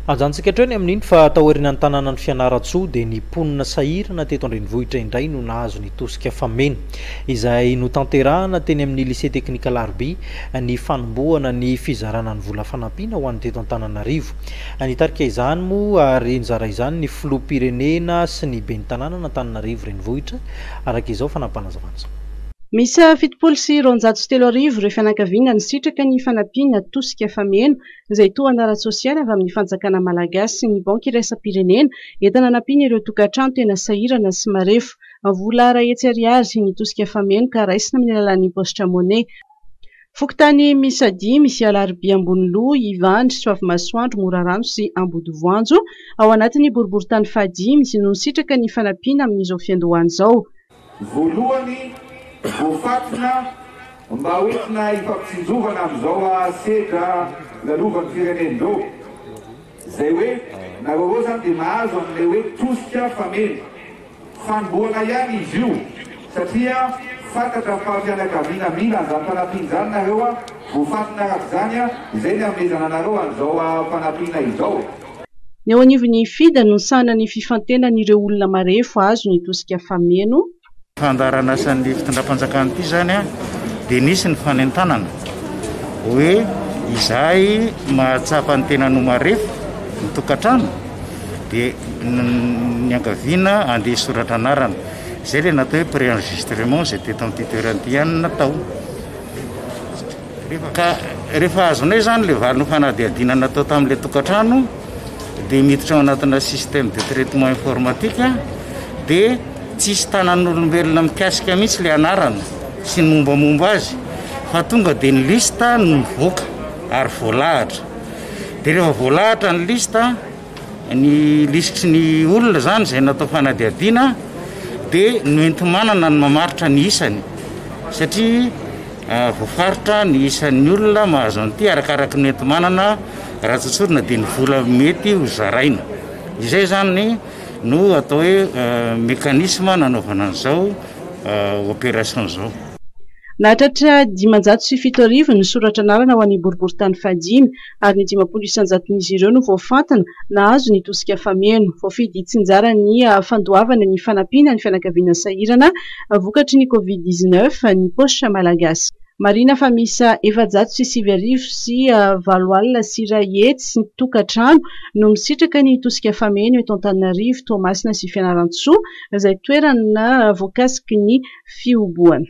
Hajantsika hatreo ny amin'iny fa taorianan'ny tanànan'i Fianarantsoa dia ny mponina sahirana teto an-drenivohitra indray no nahazo ny tosika fameno izay notanterahana teny amin'ny Lycée Technique Alarobia ny fanombohana ny fizarana ny vola fanampiana ho an'ny teto Antananarivo. Nitarika izany moa ary nizara izany ny Filoham-pirenena sy ny Ben'ny tanànan'Antananarivo Renivohitra araka izao fanapanazavana izao. Miisa fitopolo sy roanjato sy telo arivo ireo fianakaviana nisitraka ny fanampiana tosika fameno izay tohana ara-tsosialy avy amin'ny fanjakana malagasy sy ny Banky iraisam-pirenena entina hanampiana ireo tokantrano tena sahirana sy marefo. Vola iray hetsy ariary ny tosika fameno ka raisina amin'ny alalan'ny paositra Money. Fokontany miisa dimy misy Alarobia Amboniloha, Ivandry, Soavimasoandro, Morarano sy Ambodivoanjo ao anatin'ny boriborintany fahadimy no nisitraka ny fanampiana amin'izao fiandohana izao. Voalohany, voafantina mba ho entina ifampitsinjovana amin'izao sedra lalovan'ny firenen-dro, izay hoe nareo roa izany dia mahazo an'ilay hoe tosika fameno. Fanombohana ihany izy io satria fantatra fa fianakaviana mila an'izany fanampiana izany nareo, voafantina araka izany izay ny hanomezana anareo an'izao fanampiana izao. Ny ao anivon'ny FIDA no misahana ny fifantenan'ireo olona marefo azo ny tosika fameno. Fandaharanasan'ny fitondram-panjakana ity izany dia nisy ny fanentanana hoe izay mahatsapa ny tenany ho marefo ny tokantrano dia niangaviana handeha hisoratra anarana. Izay ilay natao hoe pré-enregistrement izay teto amin'ity toerana ity ihany no natao. Ka rehefa azonay izany ilay valin'ny fanadihadiana natao tamin'ilay tokantrano dia miditra ao anatina système de traitement informatique dia tsisy tanan'olombelona mikasika mihitsy ilay anarana sy ny mombamomba azy fa tonga dia ny liste no mivoaka ary voalahatra dia rehefa voalahatra ny liste Ny lisitry ny olona izany izay natao fanadihadiana dia noenti-manana ny mamaritra ny isany satria voafaritra ny isan'ny olona mahazo an'ity arakaraky ny enti-manana raha tsotsorina dia ny vola mety ho zaraina. Izay izany no atao hoe mécanisme nanaovana an'izao opération izao. Nahatratra dimanjato sy fito arivo ny soratra anarana ho an'ny boriborintany fahadimy. ary ny dimampolo isan-jaton'izy ireo no voafantina nahazo ny tosika fameno. Voafidy hitsinjara ny fandoavana ny fanampiana ny fianakaviana sahirana vokatry ny Covid dix-neuf ny Poche Malagasy. Marihina fa miisa efajato sy sivy arivo sy valo alina sy iray hetsy tokantrano no misitraka ny tosika fameno eto Antananarivo, Toamasina sy Fianarantsoa izay toerana voakasiky ny fihobohana.